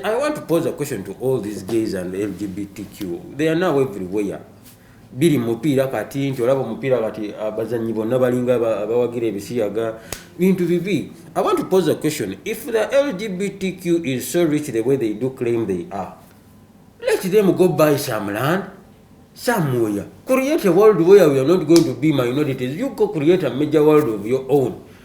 I want to pose a question to all these gays and LGBTQ. They are now everywhere. biri mupiira kati nti olaba omupiira kati abazanyi bonna balinga abawagira ebisiyaga bintu bibi i want to pose a question if the lgbtq is so rich the way they do claim they are let them go buy some land somewhere create a world where we are not going to be minorities you go create a major world of your own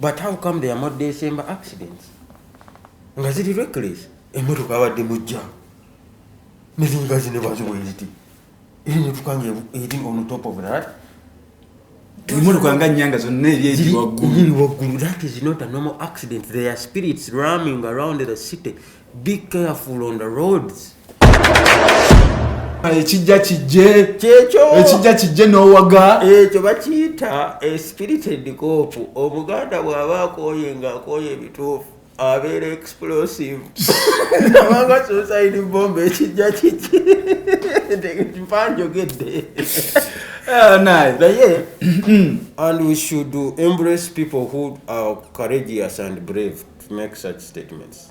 but how come there more december accidents nga ziri reckless emotoka abadde mujja nezinga zine baziweziti eri motoka nga eri on top of that emotoka nga nyanga zonna eryeri waggulu that is not a normal accident there are spirits roaming around the city Be careful on the roads. ekijja kijje kyekyo ekijja kijje n'owaga ekyo bakiyita espirited cop obuganda bw'aba akooye nga akooye ebituufu abeera explosive abanga suicide bomba ekijja kijje mpa njogedde ah, naye and we should embrace people who are courageous and brave to make such statements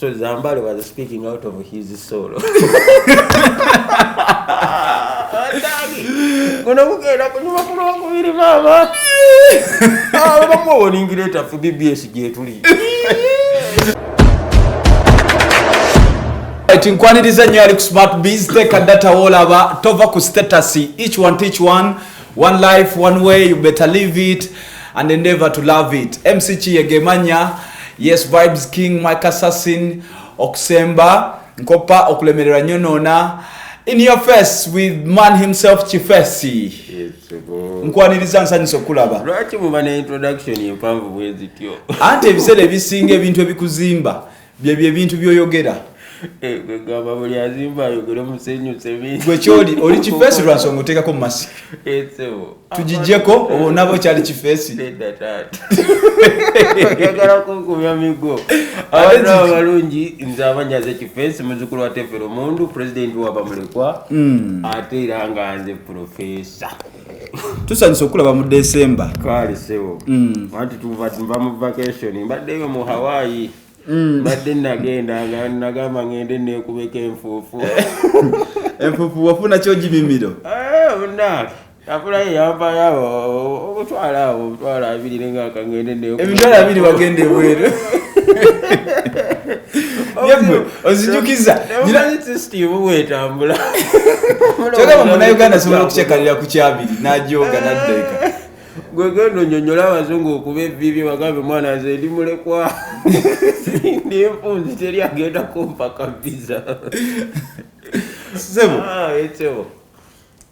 So Zambale was speaking out of his soul. Kuna kugenda kunyuma kuno kubiri mama. Ah, bamwe woningira eta fu BBS je tuli. Right, nkwaniriza nyo ali ku smart biz take data wola ba tova ku status each one teach one. One life, one way, you better live it and endeavor to love it. MC Chiyegemanya, Yes Vibes King, Mike Assassin, Okusemba, Nkopa, Okulemerera Nyonona, In your face with man himself Chifesi. Yes, Nkwaniriza nsanyusa okulaba. Lwaki muba ne introduction empanvu bwezityo? Ante ebiseera ebisinga ebintu ebikuzimba. byebyo ebintu byoyogera eh, gamba buli azimba ayogere musenyu sebi gwe kyoli oli kifeesi lwa nsonga oteekako masik eh, tugijjeko obo nabo kyali kifeesi agala kunkumya migo abantu abalungi nze abanyaze kifeesi muzukulu wa tefero mundu pulezidenti wabamulekwa hmm. ate era nga nze pulofeesa tusanyusa okulaba mu december kaali sebo mm. anti tuva mu vacation mbaddeyo mu hawaii mm. mbadde nagenda nga nagamba ngende nekubeka enfuufu enfuufu wafuna kyogimimiro eh, afulayo yampayo abo obutwala abo obutwala abiri nenga akangende neemitwala abiri bagenda ebweru ozijukiza kyogamba munauganda asobola okucekalira ku kyabiri najoga naddeeka gwegenda onyonyola abazungu okuba ebibi bagambe mwana nze ndi mulekwa ndi enfunzi teri agenda kumpaka visa sebo ah,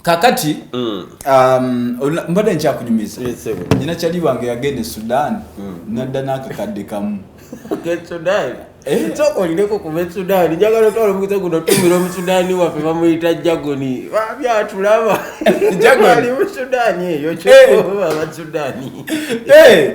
kakati mm. um, mbadde nkyakunyumiza nyina kyali wange yagenda e sudan mm. nadda n'akakadde kamu eh? olineko kuva esudaani njagala otwala omukisa guno tumira omusudaani waffe bamuyita jagoni babyatulaba ali musudaani eyo kyoba eh. abasudaani eh.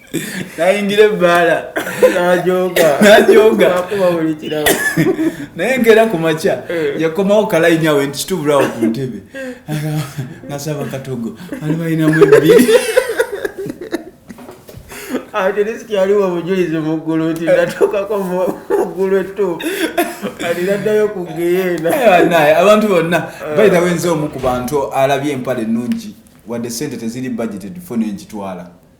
nayingira ebbaala naye ngeera ku makya eh. yakomawo kalainyawe nti kitubulawo ku ntebe nasaba katogo ali balinamu ebbiri ate risiki yaliwo obujulizi mu ggulu nti natuukako mu ggulu ettuufu kati naddayo ku geyeena eh, abantu bonna eh. bayitawo enze omu ku bantu alabye empale ennungi wadde sente teziri budgeted fo nengitwala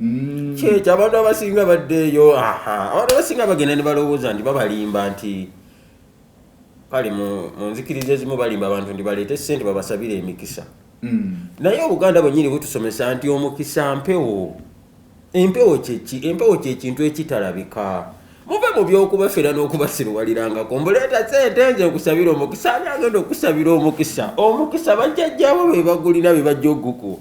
mm. kyekyo abantu abasinga baddeeyo abantu abasinga bagenda ne balowooza nti babalimba nti kale mu nzikiriza ezimu balimba abantu nti baleete sente babasabire emikisa mm. naye obuganda bwenyini butusomesa nti omukisa mpewo empewo kyeki empewo kyekintu ekitalabika muve mu byokubafera n'okubasiruwalirangako mbuleeta sente nze okusabira omukisa ani agenda okusabira omukisa omukisa bajjajjabo bebagulina bebajja oguku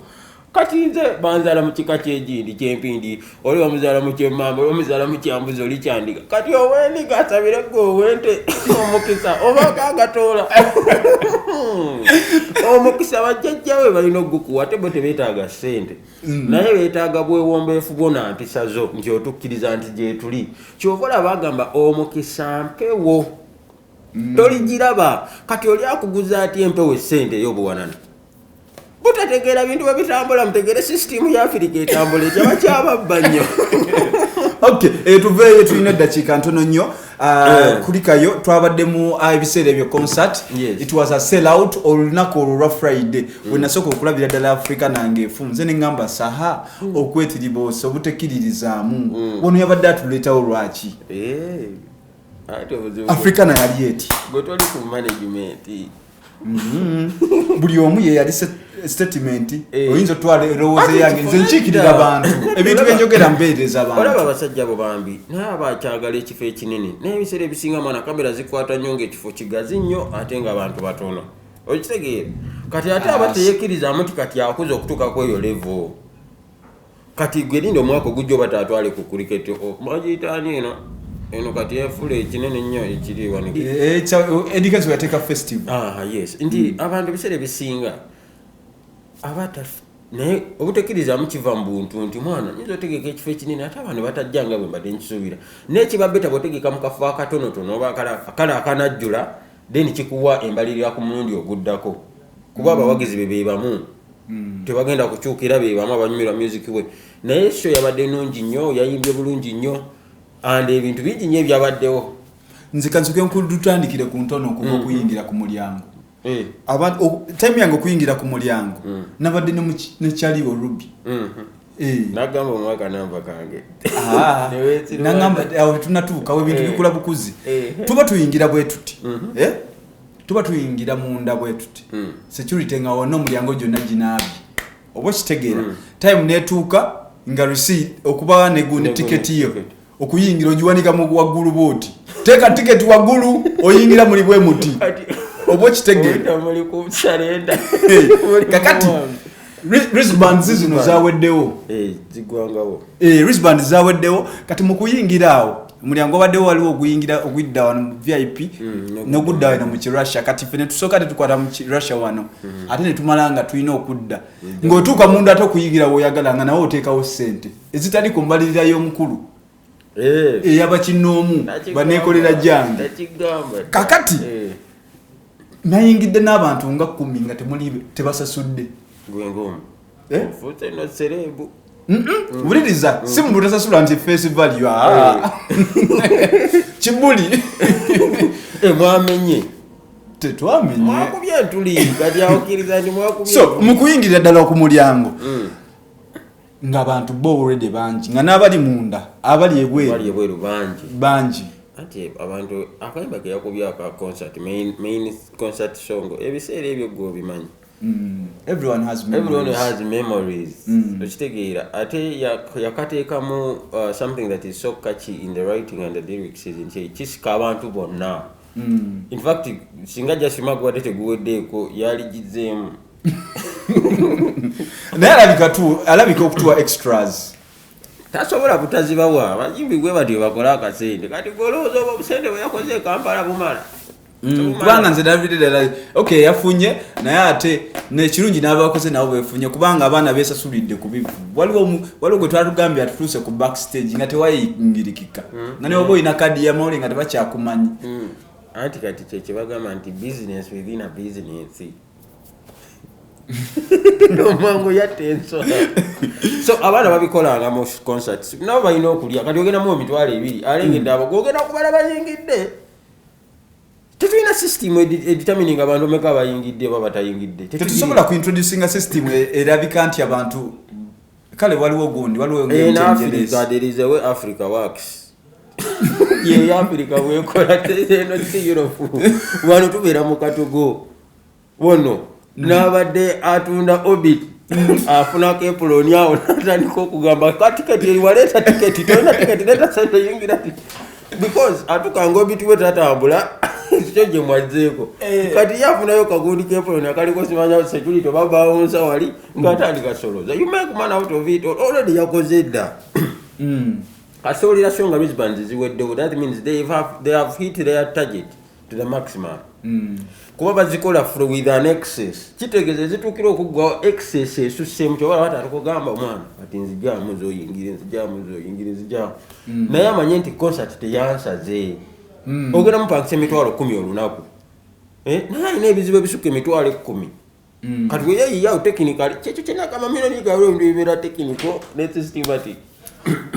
kati nze banzala mu kika kyegindi kyempindi oli bamuzala mu kyemamba oli bamuzala mu kyambuzi oli kyandiga kati owendiga asabire gwe owente omukisa oba gagatoola omukisa bajjajjawe balina ogukuwa ate bo tebetaaga sente mm. naye betaaga bwewombeefu bwona mpisa zo nti otukkiriza nti gyetuli kyova olaba agamba omukisa mpewo mm. toligiraba kati oli akuguza ati empewo esente eyobuwanana butategeera bintu bwe bitambula mutegeere sisitiimu ya afirika etambula ekyaba kyababba nnyo ok eh, tuveeyo tulina eddakiika ntono nnyo ah, eh. kulikayo twabaddemu ah, ebiseera ebyo concert it was a sell out olunaku olwo lwa friday mm. wenasooka okulabira ddala africa nange efu nze neŋamba saha mm. okwetiriboosa obutekkiririzaamu mm. wano yabadde atuleetawo lwaki eh. africa nayali eti mm-hmm. buli omu yeyali statement eh. oyinza otwala erowooza yange nze nkiikirira bantu ebintu byenjogera mbeereza bantu olaba abasajja abo bambi naye aba akyagala ekifo ekinene naye ebiseera ebisinga mwana kamera zikwata nnyo ngaekifo kigazi nnyo ate nga abantu batono okitegeera kati ate aba teyekirizamu ti kati akuza okutuuka kweyo levo kati gwe linda omwaka ogujja oba tatwale ku cricket bagiyitaani eno eno kati efula ekinene ennyo ekiriwaneeducationyateeka eh, eh, festival ah, yes nti hmm. abantu ebiseera ebisinga aba naye obutekirizamu kiva mu buntu nti mwana nyinza otegeka ekifo ekinene ate abantu batajja nga bwe mbadde nkisuubira naye kiba beta bwotegeka mu kafo akatonotono oba kale akanajjula then kikuwa embalirira ku mulundi oguddako kuba mm. abawagizi be bebamu mm. tebagenda kukyukira bebamu abanyumirwa music we naye sho yabadde nungi nnyo yayimbye bulungi nnyo and ebintu bingi nnyo ebyabaddewo nzikanzike nkudutandikire ku ntono okuva mm. okuyingira ku mulyango eh. time yange okuyingira ku mulyango nabadde nekyaliwo ruby mm-hmm. Eh. nagamba omuwa kanamba kange ah. nagamba awo tetunatuukawo ebintu eh. bikula bukuzi eh. tuba tuyingira bwe tuti mhm. tuba tuyingira munda bwe tuti mm. security nga wona omulyango gyonna ginaabi oba okitegeera mm. time netuuka nga receipt okuba ne tiketi yo okuyingira ogiwanika mu waggulu bwoti teeka tiketi waggulu oyingira muli bwe muti oba okitegeerakakati risbands zino zaweddewo eh, eh, risbands zaweddewo kati mukuyingira awo omulyango obaddewo waliwo oguyingira ogudda wano mu vip mm, nogudda wano mu kirussia kati fe netusooka tetukwata mu kirussia wano mm. ate netumala nga tulina okudda mm. ngaotuuka munda ate okuyingira woyagala nga nawe oteekawo sente ezitali ku mbalirira y'omukulu eh. eyabakinnoomu baneekolera gyange kakati eh. nayingidde n'abantu nga kumi nga temuli tebasasudde eh? wuliriza mm. si mu butasasula nti face value ah. kibuli mwamenye tetwamenyemukuyingirira ddala ku mulyango mm. nga bantu bo already bangi nga n'abali munda abali ebweru bangi bangi anti abantu akayimba ke yakubye aka concert main, main concert song ebiseera ebyo gwe obimanyi mm. everyone has memories, everyone has memories. Mm. okitegeera ate yakateekamu uh, something that is so catchy in the writing and the lyrics nti kisika abantu bonna mm. in fact singa jasima gwate teguweddeeko yaligizeemu naye alabika tu alabika okutuwa extras tasobola kutazibawa abazimbi gwe batyo bakola akasente kati golowooza oba obusente bweyakoze ekampala bumala mm, kubanga nze nabide dala ok yafunye naye ate nekirungi nabakoze nabo befunye kubanga abaana besasulidde kubivu waliwo gwe twatugambye atutuuse ku back stage nga tewayingirikika mm. nga neoba olina kadi yamawuli nga tebakyakumanyi mm. anti kati kyekibagamba nti business within a business nomango yatta ensolo so abaana babikolanga mu concerts nabo balina okulya kati ogendamu emitwalo ebiri alengedde abo gogenda kubala bayingidde tetulina system editamininga abantu omeka bayingidde oba batayingidde tetusobola kuintroducinga system e- erabika nti abantu kale waliwo gundi waliwo eh, africa works yeyafirika bwekola eno si europe wano tubeera mu katugo wono nabadde atunda obit afunako epuloni awo natandika okugamba ka tiketi eriwaleeta tiketi tolina tiketi leta sente yingira because atukanga obit we tatambula ekyo gye mwazzeeko eh. kati yafunayo kagundi kepoloni akaliko simanya security oba bawunsa wali ngaatandika soloza you make man out of it already yakoze edda hmm. Kati owulira so nga wristbands ziweddewo that means they have, they have hit their target to the maximum mm. kuba bazikola fro with an excess kitegeeza ezituukira okuggwawo excess esussemu kyobala bati atukugamba omwana kati nzijamu zoyingire nzijamu zoyingire nzijamu mm. naye amanye nti concert teyansaze mm. ogenda mupangisa emitwalo kumi olunaku eh, naye alina ebizibu ebisukka emitwalo ekkumi Mm. kati weyayiyawo tekinikali kyekyo kyenakamamiranikalo ebintu bibeera tekiniko netsistimati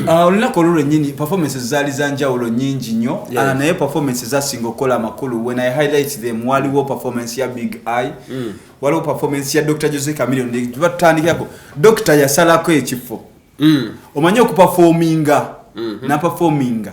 ah, olunaku olwo lwenyini performances zaali za njawulo nyingi nnyo ah, naye performance zasinga okukola amakulu when i highlight them waliwo performance ya big eye mm. waliwo performance ya dr jose camilion tubatandikirako dokita yasalako ekifo mm. omanyi okupafominga mm-hmm. napafominga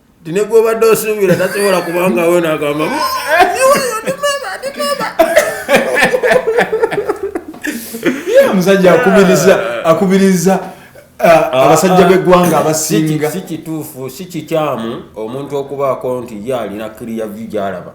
nti ne gwobadde osuubira tasobola kubanga we nagamba omusajja akubiriza akubiriza uh, ah, abasajja ah. b'eggwanga abasinga si kituufu si kikyamu omuntu okubaako nti ye alina kiriya vyu gyalaba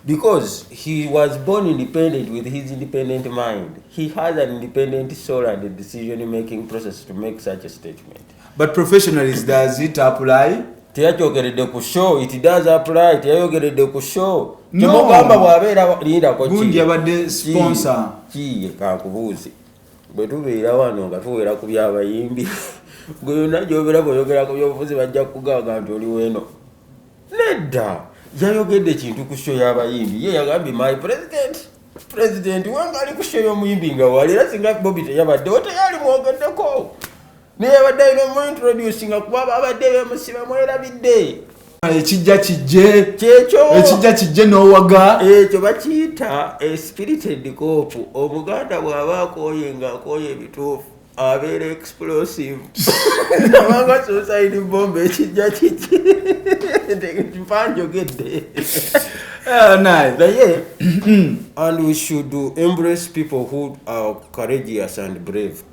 because he was born independent with his independent mind he has an independent soul and decision making process to make such a statement but professionalism does it apply teyakyogeredde ku show it does apply teyayogeredde ku show kimugamba bwabeera lindako gundi abadde sponsor kiye kankubuuzi bwe tubeera wano nga tuwera ku byabayimbi gwe yona gyobeera bweyogerako byobufuzi bajja kugaaga nti oli weno nedda yayogedde ekintu ku show yabayimbi ye yagambye my president president wange ali ku show yomuyimbi nga wali era singa bobi teyabaddewo teyali mwogeddeko naye abadde alina omuintroducinga kuba abadde bemusiba mwerabidde ekijja kijje kyekyo ekijja kijje n'owaga ekyo bakiyita espirited cop obuganda bw'aba akooye nga akooye ebituufu abeera explosive abanga suicide bomba ekijja kijje mpa njogedde ah, naye and we should embrace people who are courageous and brave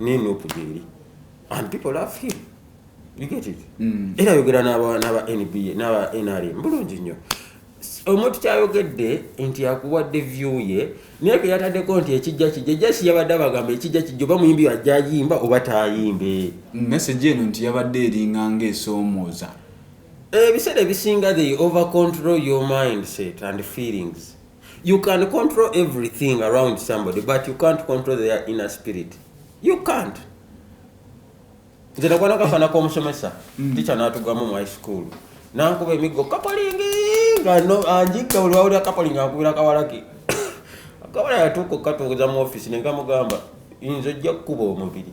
ne nup gyeri and people love him you get it mm. era ayogera n'aba nba n'aba nrm bulungi nnyo omuntu kyayogedde nti akuwadde view ye naye ke yataddeko nti ekijja kijja jasi yabadde abagamba ekijja kijja oba muyimbi ajja ayimba oba tayimbe mm, message eno nti yabadde eringa ngaesoomooza ebiseera eh, ebisinga they over control your mindset and feelings You can control everything around somebody but you can't control their inner spirit. You can't. nze nagwana kafana komusomesa mm. ticha natugamu mu high school nankuba emiggo kapolingi nga anjika buli wawulira kapolingi akubira kawalaki akawala yatuuka okukatuuza mu ofisi nengamugamba inza ojja kukuba omubiri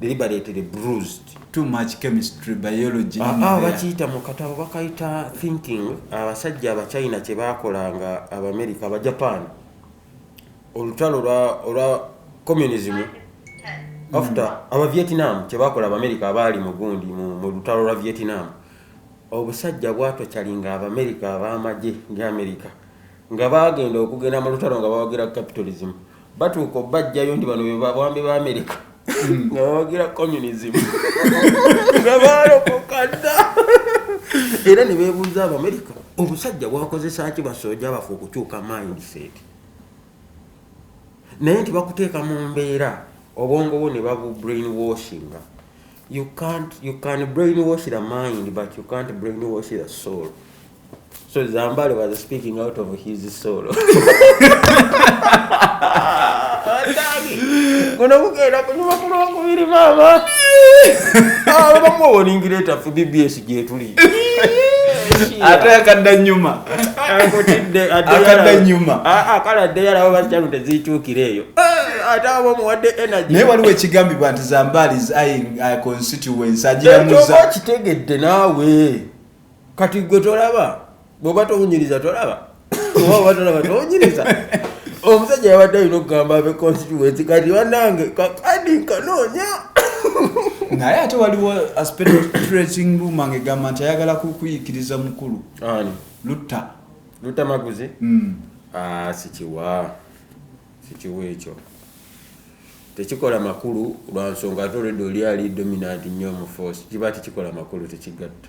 deliberately bruised too much chemistry biology ah, ah, bakiyita mu katabo bakayita thinking abasajja abachina kye bakolanga abamerica abajapan olutalo olwa communism after mm. abavietnam kye bakola abamerica abaali mu gundi mu lutalo lwa vietnam obusajja bwatokyalinga abamerica abamagye ndi america nga baagenda okugenda mu lutalo nga bawagira capitalism batuuka obajjayo nti bano bebabwambi ba amerika hmm. nga bawagira communism nga balokokadda era ne beebuuza abamerika obusajja bwakozesa ki basooja bafe okukyuka mindset naye nti bakuteeka mu mbeera obwongo bwo ne babu brain washinga You can't, you can brainwash the mind, but you can't brainwash the soul. So Zambale was speaking out of his soul. kuno kugenda kunyuma kulwokubiri maama abamu ah, owoningireeta fu bbs gyetuli ate akadda nyuma akadda nyuma kale addeyo alaba bakyalo tezikyukira eyo eh, ate aba omuwadde energy naye waliwo ekigambibwa nti zambaali is eyeing uh, constituency agiramuza kitegedde naawe kati gwe tolaba bwoba towunyiriza tolaba omusajja yabadde alina okugamba abe constituency kati banange kakadi nkanoonya naye ate waliwo aspectrating ruma nga egamba nti ayagala kukuyikiriza mukulu lutta lutta maguzi hmm. ah, sikiwa sikiwa ekyo tekikola makulu lwansonga ate olwedde oli ali dominant nnyo mu force kiba tekikola makulu tekigatta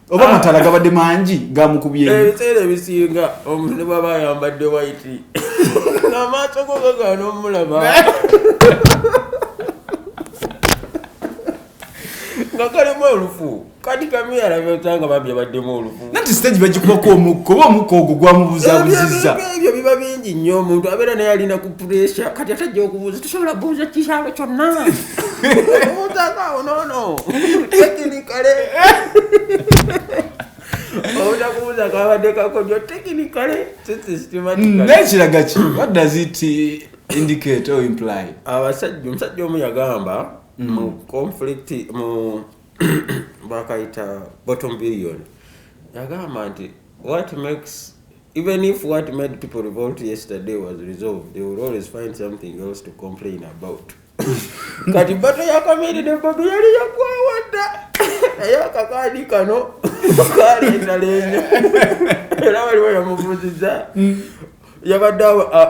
oba amatala ah. gabadde mangi gamukubyeebiseera eh, ebisinga omuntu bwaba ayambadde waiti amaaso gogagaana omulaba nga kalimu olufu kati kamiyalabyotanga bambi abaddemu olufu nati stage bagikubako omukka oba omukka ogwo gwamubuzabuziza ebyo biba bingi nnyo omuntu abeera naye alina ku puresha kati atajja okubuuza tusobola buuza kikyalo kyonna Obutaka onono tekinikale obutaka obutaka abadde kakodyo tekinikale nekiraga ki what does it indicate or imply abasajja omusajja omu yagamba mm. mu conflict mu bakayita bottom billion yagamba nti what makes even if what made people revolt yesterday was resolved they will always find something else to complain about kati bato yakamiri ne bobi yali yakwawadda naye akakaadi kano kalendalenyo era waliwo yamubuziza yabadde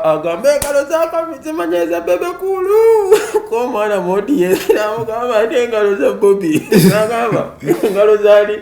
agamba engalo zakamizimanyeza bebekulu komwana modi yeamugamba ate engalo za bobi agamba engalo zali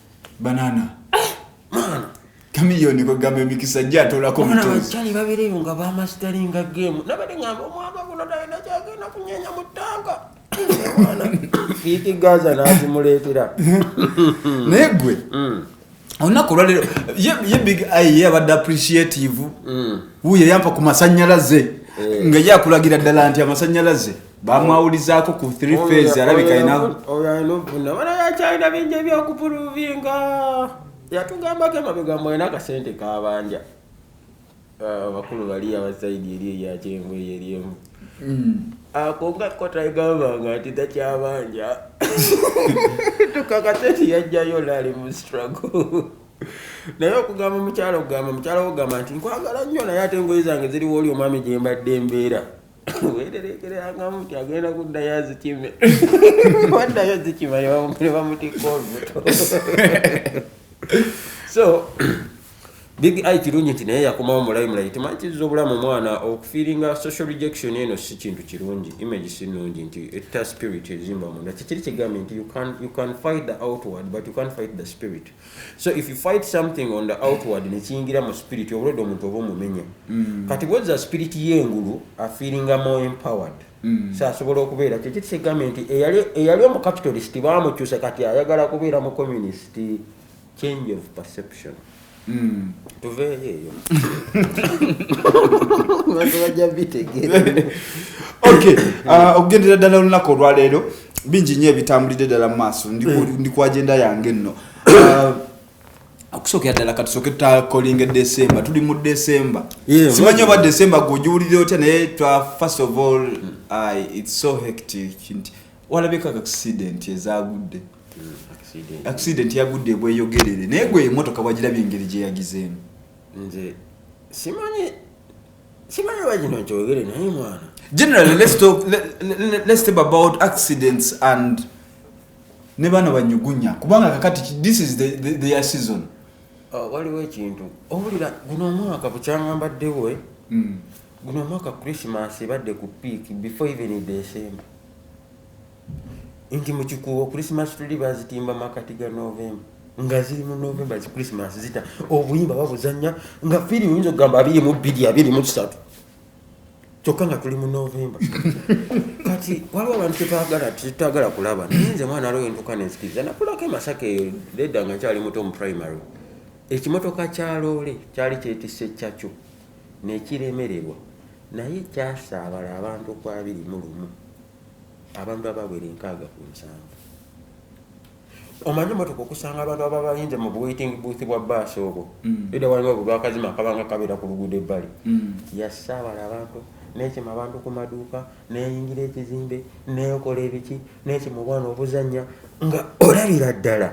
banana maana kamiyoni kwegamba emikisa gye atolako mutozibakyali babireyo nga bamasitalinga gemu nabade ngamba omwaka guno talina kyagenda kunyenya mu ttanka fiiti gaza nazimuleetera naye gwe mm. olunaku olwalero ye big eye ye abadde appreciative mm. wuyo yampa ku masanyalaze eh. nga ye akulagira ddala nti amasanyalaze bamwawulizaako ku three phase alabika ina oyo alina okufuna bana yakyalina bingi ebyokupuluvinga yatugambako emabega mbu alina akasente kabanja ah, abakulu bali abasaidi eri eyakyenvu eyo eryemu hmm. ako nga kotagambanga nti takyabanja tukakasente yajjayo laali mu struggle naye okugamba omukyalo okugamba omukyalo okugamba nti nkwagala nnyo naye ate engoye zange ziriwo oli omwami gyembadde embeera weerereekererangamu nti agenda kuddayo azikime waddayo azikima ne bamutikka olubuto so big i kirungi nti naye yakomawo mulayi mulayi temanyi kiziza obulamu omwana okufiiringa social rejection eno si kintu kirungi image si nungi nti etta spirit ezimba munda kikiri kigambye nti you can fight the outward but you can fight the spirit so if you fight something on the outward nekiyingira mu spirit obulwedde omuntu oba omumenya mm. kati bweza spirit yengulu afeelinga more empowered mm. so asobola okubeera kyekyo kisigambye nti eyali omucapitalist bamukyusa kati ayagala kubeera mu communist change of perception mm. tuveeyo eyo bajja bitegeera uh, okugendera ddala olunaku olwaleero bingi nnyo ebitambulidde ddala mu maaso ndi eh. ku agenda yange nno uh, okusookera ddala katusooke tutakolinga decemba tuli mu decemba simanyi oba decemba gweogiwulire otya naye first of all hmm. its so hectic nti walabeko accident ezagudde hmm, accident yagudde ebweyogerere naye gwe emotoka wagirabye engeri gyeyagizeemu nze simanyi Simana waji no chogere na mwana. Generally let's talk let, let, let's talk about accidents and ne bana banyugunya kubanga kakati this is the the, the season. Uh, waliwo ekintu owulira guno omwaka bukyangamba ddewo eh? mm. guno omwaka christmas ebadde ku peak before even december nti mu kikuubo christmas tree bazitimba makati ga novemba nga ziri mu novemba zi christmas zita obuyimba babuzanya nga firi oyinza okugamba abiri mu bbiri abiri mu kisatu kyokka nga tuli mu novemba kati waliwo abantu kyetwagala tetwagala kulaba naye nze mwana aliwo entuka nenzikiriza nakulako emasaka eyo ledda nga nkyali muto mu primary ekimotoka kya loole kyali kyetise kyakyo nekiremererwa naye kyasaabala abantu ku abiri mu lumu abantu abawera enkaaga ku nsanvu omanyi motoka okusanga abantu aba bayinze mu buwaiting booth bwa baasi obwo mm. eda waliwo obwo bwakazima akabanga kabeera ku luguudo ebbali mm. yasaabala abantu nekima abantu ku maduuka neyingira ekizimbe nekola ebiki nekima obwana obuzanya nga olabira ddala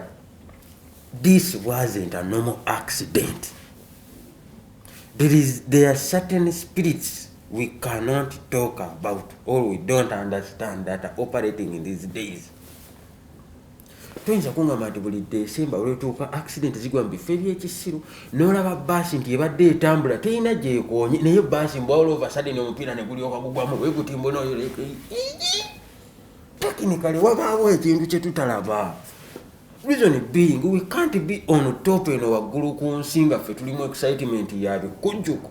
this wasn't a normal accident there, is, there are certain spirits we cannot talk about or we don't understand that are operating in these days toyinza kungamba nti buli desemba olwetuuka accident zigwa mu bifo ebyekisiru nolaba baasi nti ebadde etambula terina gyekonye naye baasi mbwawula ova sadeni omupiira negulyoka gugwamu wegutimbo noyo tekinikale wabaawo ekintu kyetutalaba reason being we can't be on top eno waggulu ku nsi nga ffe tulimu excitement yabikujjuko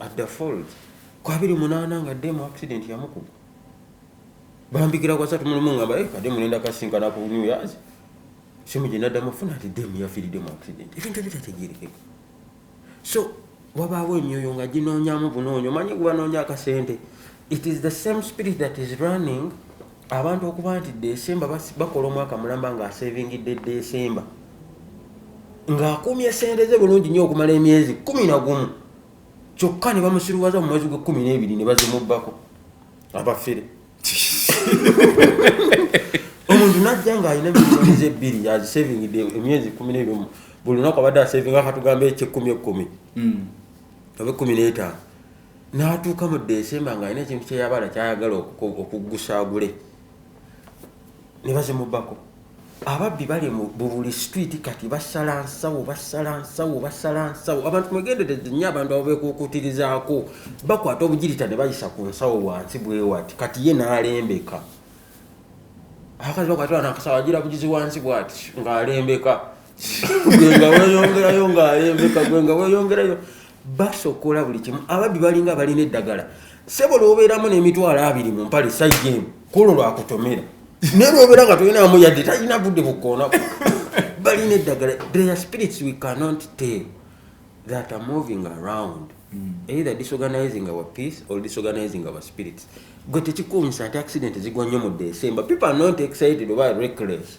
at the falls ku abiri munaana nga demu accident yamukuba bambikira kwasatu mulimu ngamba eh, kade mulenda kasinkana ku new years simu gye naddamu afuna ati demu yafiiridde mu accident ebintu ebitategerekeka so wabaawo emyoyo nga ginoonyamu bunoonyo manyi gubanoonya akasente it is the same spirit that is running abantu okuba nti desemba bakola omwaka mulamba nga asevingidde desemba ng'akumye sente ze bulungi nnyo okumala emyezi kumi na gumu kyokka ne bamusiruwaza mu mwezi gw'ekkumi n'ebiri ne bazimubbako abafere omuntu najja ng'alina milioni ze ebbiri yazisevingidde emyezi kumi n'ebiri buli lunaku abadde asevinga katugambe ekyekkumi ekkumi hmm. oba ekkumi n'etaano n'atuuka mu desemba ng'alina ekintu kye yabala ky'ayagala okuggusa agule ne bazimubako ababbi bali mu buli situiti kati basala nsawo basala nsawo basala nsawo abantu mwegendereze nnyo abantu abo beekuukuutirizaako bakwata obugirita ne bayisa ku nsawo wansi bwewati kati ye n'alembeka abakazi bakwatira nakasawo agira bugizi wansi bwati ng'alembeka gwenga weyongerayo ngaayembeka gwenga weyongerayo basokola buli kimu ababbi balinga balina eddagala sebo lwobeeramu n'emitwalo abiri mu mpale saigemu kulo lwakutomera naye lwobeera nga tolinamu yadde talina budde bukoonaku balina eddagala their spirits we cannot tell that are moving around mm. either disorganizing our peace or disorganizing our spirits gwe tekikuumisa nti accident zigwa nnyo mu december people are not excited oba reckless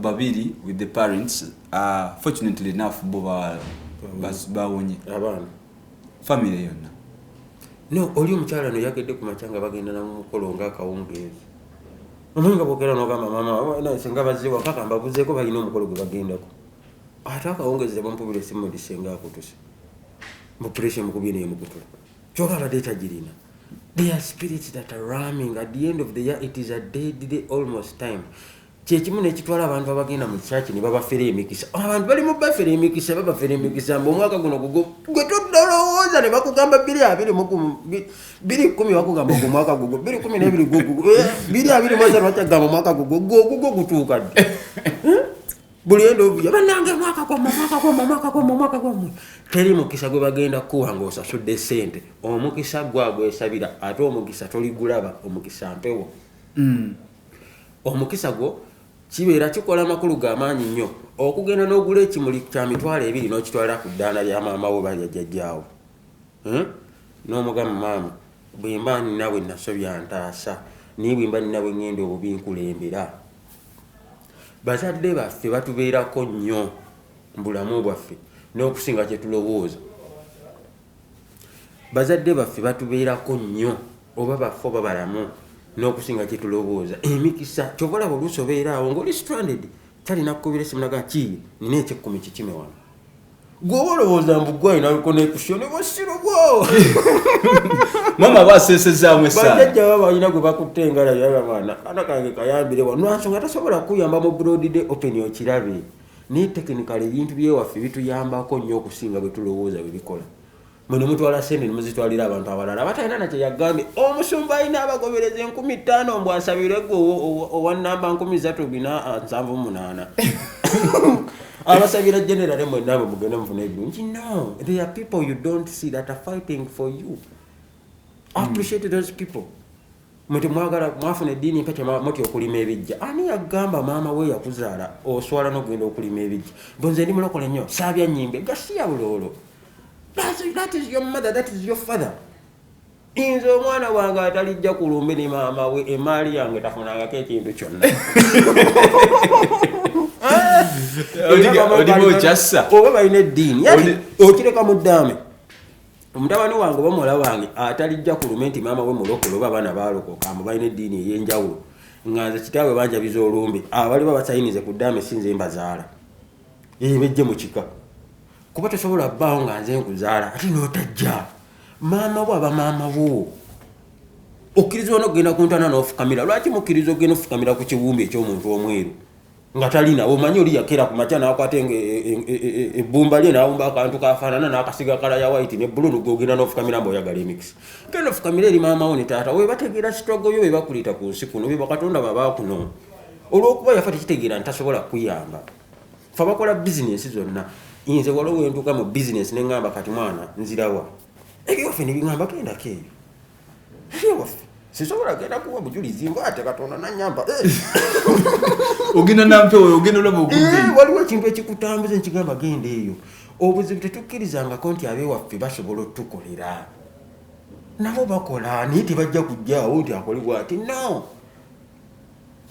babiri with the parents uh, fortunately enough bo bawonye abaana family yonna no oli omukyala noyagedde ku makya nga bagenda namumukolo nga akawungeezi omanyi nga bogera nogamba mama senga bazewa paka mbabuzeeko balina omukolo gwe bagendako ate akawungeezi tebampubira esimu ndi senga akutuse mupuresha mukubye neyemukutula kyoba abadde tagirina there are spirits that are ramming at the end of the year it is a dead day almost time kyekimu nekitwala abantu abagenda mu kyaki nebabafera emikisa abantu bali mubafera emikisa babafera emikisa mbu omwaka guno gugo gwe todolowooza nebakugamba biri abiri biri kumi bakugamba gu mwaka gugo biri kumi nebiri gugugo eh, biri abiri mwaza lwakyagamba omwaka gugo gogugo gutuuka ddi eh? buli enda ovuya banange mwaka gwamwe mwaka gwamwe mwaka gwamwe omwaka gwamwe teri mukisa gwe bagenda kukuwa nga osasudde sente omukisa gwagwesabira ate omukisa toligulaba omukisa mpewo mm. omukisa gwo kibeera kikola amakulu ga maanyi nnyo okugenda n'ogula ekimuli kya mitwalo ebiri n'okitwala ku ddaala lya maama wo balya jjajjaawo hmm? n'omugamu maama bwemba ninawe nasobya ntaasa naye bwemba ninawe ngenda obubi nkulembera bazadde baffe batubeerako nnyo mu bulamu bwaffe n'okusinga kye tulowooza bazadde baffe batubeerako nnyo oba baffe oba balamu n'okusinga kye tulowooza emikisa kyova olaba oluusi obeeraawo ng'oli stranded talina kukubira esimu naga kii nina ekyekkumi kikime wano gwoba olowooza mbugwayi naliko nekusyo ne bwosirubwo mama basesezaamu esajajja baba balina gwe bakutte engalayo abaana kana kange kayambire wa nwansonga tasobola kukuyamba mu broad day open okirabe naye tekinikala ebintu byewaffe bituyambako nnyo okusinga bwe tulowooza bwe bikola mwene mutwala sente nemuzitwalira abantu abalala abatalina nakye yagambye omusumba alina abagobereza enkumi ttaano mbu asabire gwe owa namba nkumi zatu bina ah, nsanvu munaana abasabira generale mwena abo mugende mufuna ebirungi no there are people you don't see that are fighting for you hmm. appreciate those people Mwe mwagala mwafuna eddiini empya kyemutya okulima ebijja. Ani yagamba maama we yakuzaala oswala n'okugenda okulima ebijja? Mbu nze ndi mulokole nnyo saabya nnyimbe gasiya buloolo. That is your mother, that is your father. Inze omwana wange atalijja ku lumbe ne maama we emaali yange tafunangako ekintu kyonna. Oba balina eddiini okireka mu ddaame. omutabani wange oba muwala wange atalijja ku lume nti maama we mulokole oba abaana baalokoka mbu balina eddiini ey'enjawulo nga nze kitaabwe banjabiza olumbe abaliba basayinize ku ddaama esinze mbazaala ebejje mu kika kuba tosobola bbaawo nga nze nkuzaala ate n'otajja maama wo aba maama wo okkiriza ona okugenda ku ntana n'ofukamira lwaki mukkiriza okugenda ofukamira ku kiwumbi eky'omuntu omweru nga talina omanyi oli yakera ku makya nakwata ebbumba lye nawumba akantu kafaanana nakasiga kala ya white ne bululu gogenda nofukamira mba oyagala emix genda ofukamira eri maamawo ne taata we bategeera sitwago yo be bakuliita ku nsi kuno be bakatonda babakuno olwokuba yafa tekitegeera nti tasobola kuyamba fe bakola bizinensi zonna nze waliwo wentuuka mu bizinensi ne ŋŋamba kati mwana nzirawa ebyofe ne biŋamba kendako eyo waffe sisobola genda kuwa bujulizi nga ate katonda nanyamba eh. ogenda nampewo ogenda olaba ogude eh, waliwo ekintu ekikutambuza ekigamba genda eyo obuzibu tetukkirizangako nti abewaffe basobola otukolera nabo bakola naye tebajja kujjaawo nti akole bwati no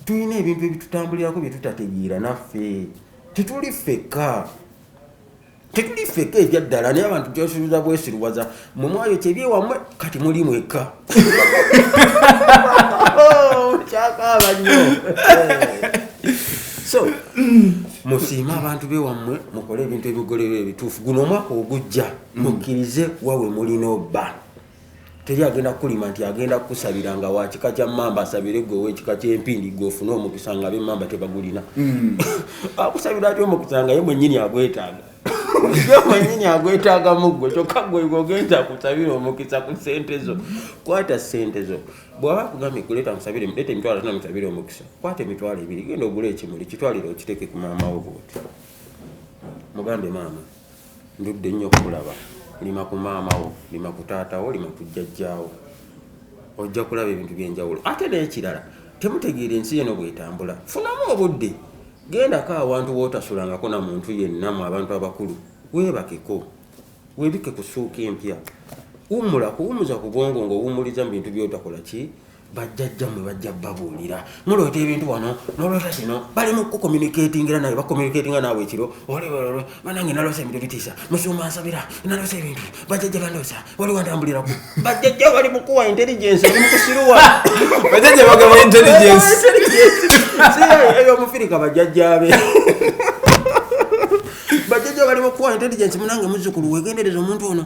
tulina ebintu ebitutambulirako byetutategeera naffe tetuli ffekka tetuli feke ebyaddala naye abantu kyosuubiza bwesiruwaza mwe mwayo kyebyewamwe kati muli mwekka oh, kyakaaba nyo so musiime abantu bewammwe mukole ebintu ebigolerwa ebituufu guno omwaka ogujja mukkirize wawe mulina obba teri agenda kukulima nti agenda kukusabira nga wakika kya mamba asabire gwe owekika kyempindi gwe ofune omukisa nga bemamba tebagulina hmm. akusabira ati omukisa nga ye mwenyini agwetaaga ye mwenyini agwetaaga muggwe kyokka gwegogenda akusabire omukisa ku sente zo kwata sente zo bwaba akugambye kuleeta musabire leeta emitwalo tona musabire omukisa kwata emitwalo ebiri genda ogula ekimuli kitwalire okiteeke ku maama wo bwoti mugambe maama Ndudde nnyo okukulaba. Lima ku maama wo, lima ku taata wo, lima ku jjajja wo. Ojja kulaba ebintu by'enjawulo. Ate n'ekirala, temutegeera ensi eno bw'etambula. Funamu obudde, gendako awantu w'otasulangako na muntu yenna mu abantu abakulu. Weebakeko, weebikke ku ssuuka empya. Wummula, kuwummuza ku bwongo ng'owummuliza mu bintu by'otakola ki? bajjajja mwe bajja babuulira muloota ebintu wano noloota kino bali mu kukomunikatingira nawe bakomunikatinga naawe ekiro olebalo banange naloosa ebintu bitiisa musuma nsabira naloosa ebintu bajjajja bandoosa wali wantambuliraku bajjajja bali mukuwa intelligence bali mukusiruwa bajjajja bagaba intelligence eyo omufirika bajjajjabe bajjajja bali mukuwa intelligence munange muzzukulu wegendereza omuntu ono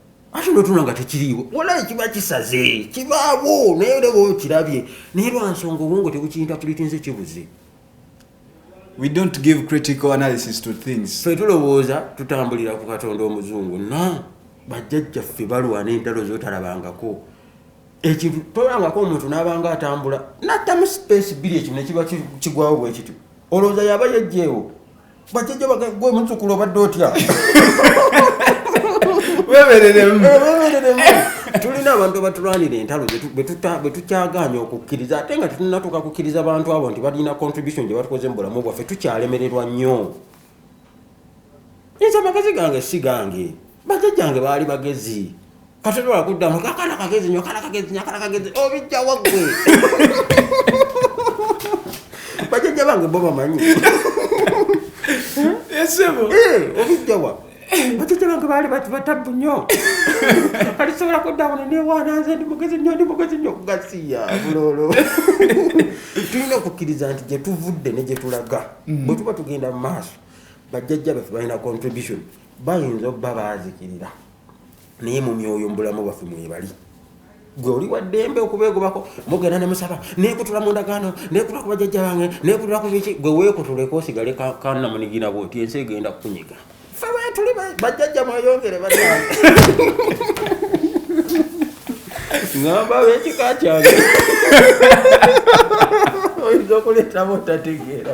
ate notuna nga tekiriiwo walayi kiba kisaze kibaawo naye olaba okirabye naye lwansonga obwongo tebukiyinta kulitinze kibuze we don't give critical analysis to things fe tulowooza tutambulira ku katonda omuzungu na bajjajjaffe balwana entalo zotalabangako ekintu tolangako omuntu nabanga atambula natamu space biri ekino nekiba kigwawo bwekityo olowooza yaba yejjeewo bajjajja bagala gwe muzzukulu obadde otya webereremu tulina abantu abatulwanira entalo betukyagaanya okukkiriza ate nga tetunatuuka kukkiriza bantu abo nti balina contribution gye batukoze mu bulamu bwaffe tukyalemererwa nnyo nze amagezi gange si gange bajajjange baali bagezi katotola kuddamu kakana kagezi nyo kana kagezi nyo kana kagezi obijja waggwe bajajja bange bo bamanyi esebo eh, obijjawa bajajja bange baali bati batabbu nyo kati sobola kudda wano newaana nze ndi mugezi nyo ndi mugezi nyo gasiya bulolo tulina okukkiriza nti gyetuvudde ne gyetulaga mm. bwe tuba tugenda mu maaso bajjajja baffe balina contribution bayinza obba baazikirira naye mu myoyo mubulamu bwaffe mwebali gwe oli waddembe okubeegobako mugenda nemusaba nekutula mu ndagaano nekutula ku bajajja bange nekutula ku biki gwe weekutuleko osigale kanamunigina bwoti ensi egenda kukunyiga fe wetuli bajajja mweyongere ba ngamba wekika kyange oyinza okuleetamu otategeera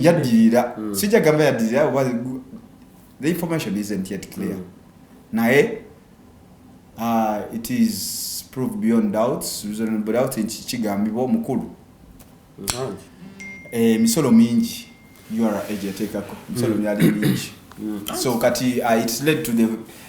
yaddirira hmm. sijja gamba yaddirira oba the information isn't yet clear mm. naye uh, it is proved beyond doubts reasonable doubt nti kigambibwa omukulu hmm. eh, emisolo mm. eh, mingi ura age yateekako emisolo hmm. myali mingi so kati uh, it's led to the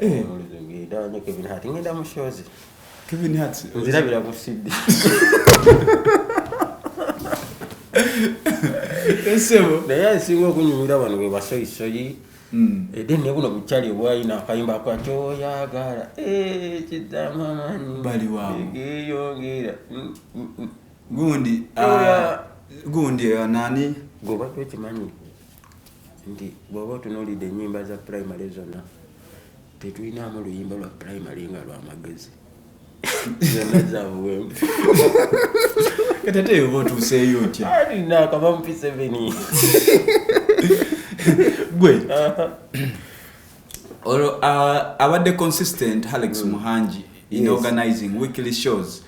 Eh. Kevin Hart ngenda mu shows. Kevin Hart. Nzirabira ku CD. Esebo. Naye asinga okunyumira bano bwe basoyisoyi. Hmm. Ede eh, ne buno bukyali obwalina akayimba kwa kyoyagala. Eh, kidamamani. Bali wao. Egeyongera. Mm, mm, mm. Gundi. Ah, gundi eh, nani? Goba kwekimanyi. nti bwoba otunulidde enyimba za primary zonna tetulinamu luyimba lwa primary nga lwamagezi zonna zabuwembu kati ate yoba otuuseeyo otya alina akaba mu piseveni gwe olwo ah, abadde consistent alex muhangi in organizing weekly shows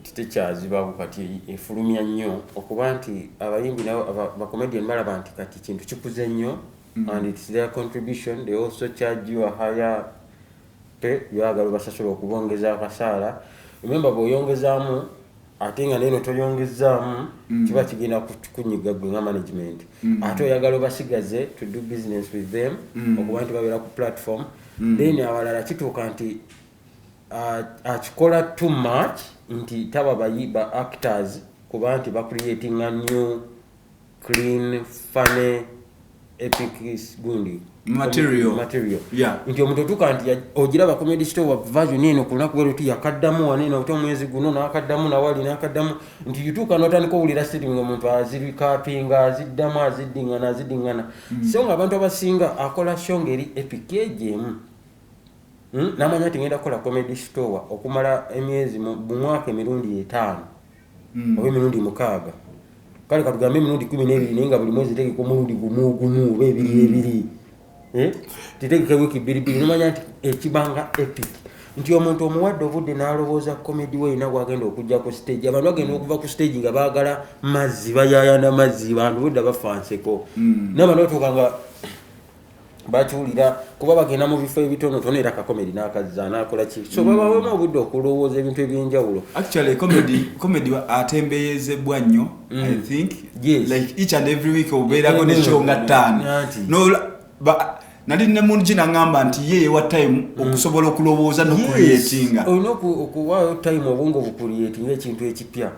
nti tekyazibawo kati efulumya nnyo okuba nti abayimbi nabo bacomedian balaba nti kati kintu kikuze nnyo mm. and its their contribution they also charge you a higher pe byagala basasula okubongeza akasaala ememba bweoyongezaamu ate nga neno toyongezaamu mm. kiba kigenda kunyiga gwe nga management mm. ate oyagala obasigaze to do business with them okuba nti babeera ku platform then awalala kituuka nti akikola uh, too much nti taba bayi ba actors kuba nti bacreating a new clean funny epic gundi material material yeah nti omuntu otuka nti ogira ba comedy store wa version eno kuna kwero ti yakaddamu wane na otomu mwezi guno na akaddamu na wali na akaddamu nti yutuka no tani ko ulira sitting ngo muntu aziri capping aziddamu azidingana azidingana mm. so nga abantu abasinga akola show ngeri epic ejemu Hmm? namanya nti ngenda kukola comedy store okumala emyezi mumwaka emirundi etaano hmm. oba emirundi mukaaga kale katugambe emirundi kumi nebiri naye nga buli mwezi tegeka omulundi gumugumu oba ebiri hmm. ebiri eh? titegeka wiiki bbiribiri nomanya nti ekibanga epic nti omuntu omuwadde obudde nalowooza comedy we yina gwagenda okujja ku stage abantu bagenda okuva ku stage nga bagala mazzi bayayana mazzi bantu budda bafanseko nabantu batuuka nga bakiwulira kuba bagenda mu bifo ebitonotono era kakomedi nakazza nakola ki so babawemu mm. obudde okulowooza ebintu ebyenjawulo actually comedy comedy atembeyezebwa nnyo mm. i think yes. like each and every week obeerako ne show nga ttaano no ba nali ne mungi nangamba nti ye yewa time mm. okusobola okulowooza nokuyetinga olina okuwaayo time obwongo bukuyetinga ekintu ekipya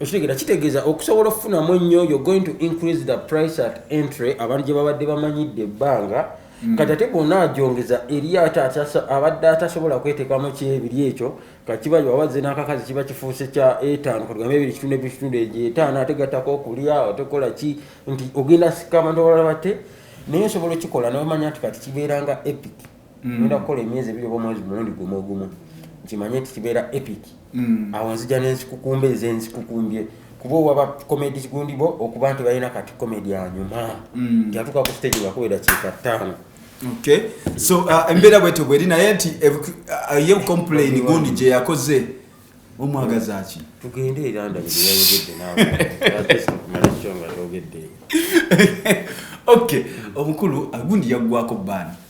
okitegera kitegeeza okusobola okufunamu ennyo yo going to increase the price at entry abantu gye babadde bamanyidde ebbanga mm. kati ate bwona ajongeza eri ate abadde atasobola kwetekamu kyebiri ekyo kakiba wabazze n'akakazi kiba kifuuse kya etaano katugambe ebiri kitundu ebikitundu egyo etaano ate gattako okulya otekola ki nti ogenda sika abantu abalala bate naye osobola okikola nomanya nti kati kibeeranga epic mm. nda kukola emyezi ebiri oba omwezi mulundi gumu ogumu nkimanye nti kibeera epic mm. awo nzija nenzikukumba ezo enzikukumbye kuba owaba comedi gundi bo okuba nti balina kati comedi anyuma mm. tiyatuka ku stage ngakubeera kiika ttaano okay so uh, embeera bwetyo bweri naye nti eh, uh, ye complain gundi gye yakoze omwagazaki tugende erandaeyayogedde naweogedde ok omukulu agundi yaggwako baani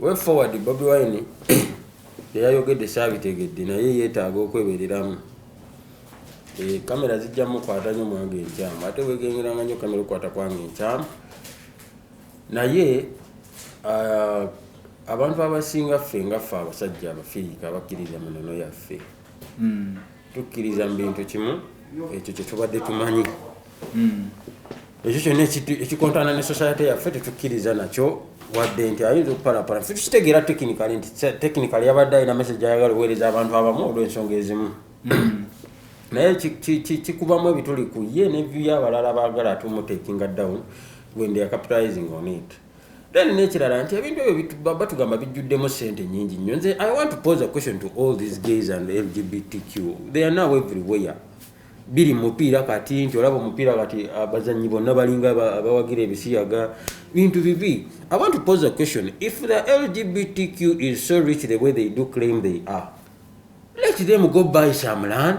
Way forward Bobi Wine byeyayogedde saabitegedde naye yeetaaga okwebereramu. Eh, kamera zijja mukwata nyo mwange enkyamu ate wegengeranga nyo kamera okukwata kwange enkyamu naye ah, abantu abasinga ffe nga ffe abasajja abafirika abakkiriza munono yaffe hmm. tukkiriza mu bintu kimu ekyo kyetubadde tumanyi hmm. ekyo kyonna ekikontana ne society yaffe tetukkiriza nakyo wadde nti ayinza okupalapala fe tukitegeera tekinikale nti tekinikale yabadde alina mesage ayagala oweereza abantu abamu olw'ensonga ezimu hmm. naye kikubamu ebituli ku ye nevyu y'abalala baagala atumutekinga down when they are capitalizing on it then nekirala nti ebintu ebyo batugamba bijjuddemu sente nyingi nnyo nze i want to pose a question to all these gays and lgbtq they are now everywhere biri mupiira kati nti olaba omupiira kati abazanyi bonna balinga abawagira ebisiyaga bintu bibi i want to pose a question if the lgbtq is so rich the way they do claim they are let them go buy some land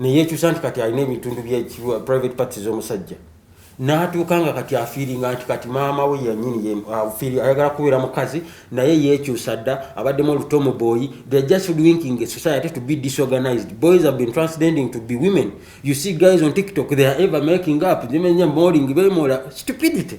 neyekyusa nti kati alina ebitundu bya private parts z'omusajja n'atuuka nga kati afiiringa nti kati maama we yanyini ayagala kubeera mukazi naye yekyusa dda abaddemu oluto mu boyi they're just winking a society to be disorganized boys have been transcending to be women you see guys on tiktok they are ever making up zimenya moling bemola stupidity